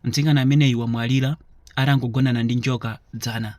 Mtsikana ameneyu wamwalira atangogonana ndi njoka dzana.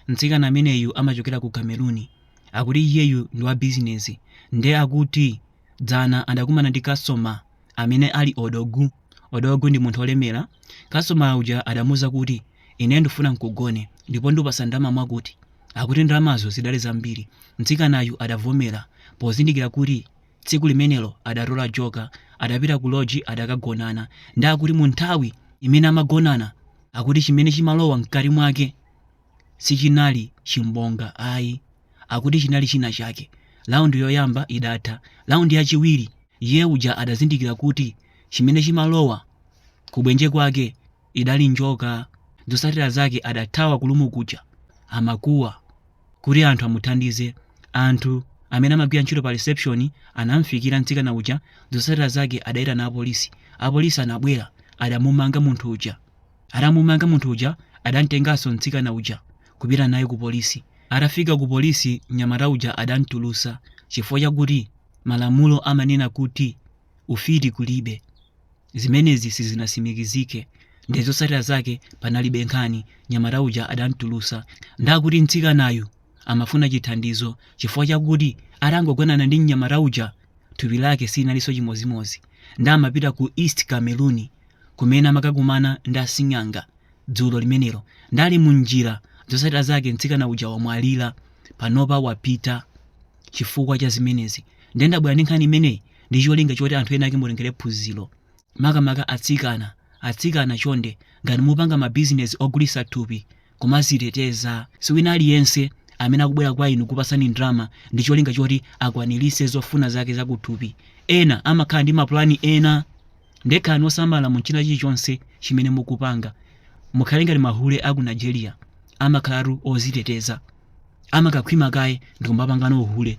Mtsikana ameneyu amachokera ku Cameroon. Akuti iyeyu ndi wa bizinesi nde akuti dzana adakumana ndi customer amene ali odogu. Odogu ndi munthu olemera. Customer uja adamuuza kuti ine ndifuna nkugone ndipo ndupasa ndalama mwakuti. Akuti ndalamazo zidali zambiri. Mtsikanayu adavomera pozindikira kuti Tsiku limenelo adatola joker, adapita ku loji adakagonana. Nde akuti mu nthawi imene amagonana akuti chimene chimalowa mkati mwake sichinali chimbonga ayi. Akuti chinali china chake. Round yoyamba idatha. Round yachiwiri iye uja adazindikira kuti chimene chimalowa kubwenje kwake idali njoka. Zotsatira zake adathawa ku room kuja amakuwa kuti anthu amuthandize. Anthu amene amagwira ntchito pa reception anamfikira mtsikana uja. Zotsatira zake adaitana apolisi. Apolisi anabwera adamumanga munthu uja. Atamumanga munthu uja adamtenganso mtsikana uja kupita naye ku polisi. Atafika ku polisi mnyamata uja adamtulutsa chifukwa chakuti malamulo amanena kuti ufiti kulibe zimenezi sizinatsimikizike nde zotsatira zake panalibe nkhani mnyamata uja adamtulutsa nde akuti mtsikanayu amafuna chithandizo chifukwa chakuti atangogonana ndi mnyamata uja thupi lake sinalinso chimodzimodzi nde amapita ku east cameroon kumene amakakumana ndi asing'anga dzulo limenelo nde ali mu njira zotsatira zake mtsikana uja wamwalira panopa wapita chifukwa cha zimenezi nde ndabwera ndi nkhani imeneyi ndi cholinga choti anthu enaake mutengere phunziro makamaka atsikana atsikana chonde ngati mupanga mabizinesi ogulitsa thupi kumadziteteza si wina aliyense amene akubwera kwa inu kukupatsani ndalama ndi cholinga choti akwaniritse zofuna zake zakuthupi ena amakhala ndi mapulani ena nde khalani osamala mu china chilichonse chimene mukupanga mukhale ngati mahule a ku nigeria amakhalatu odziteteza amakakhwima kaye ndikumapangano uhule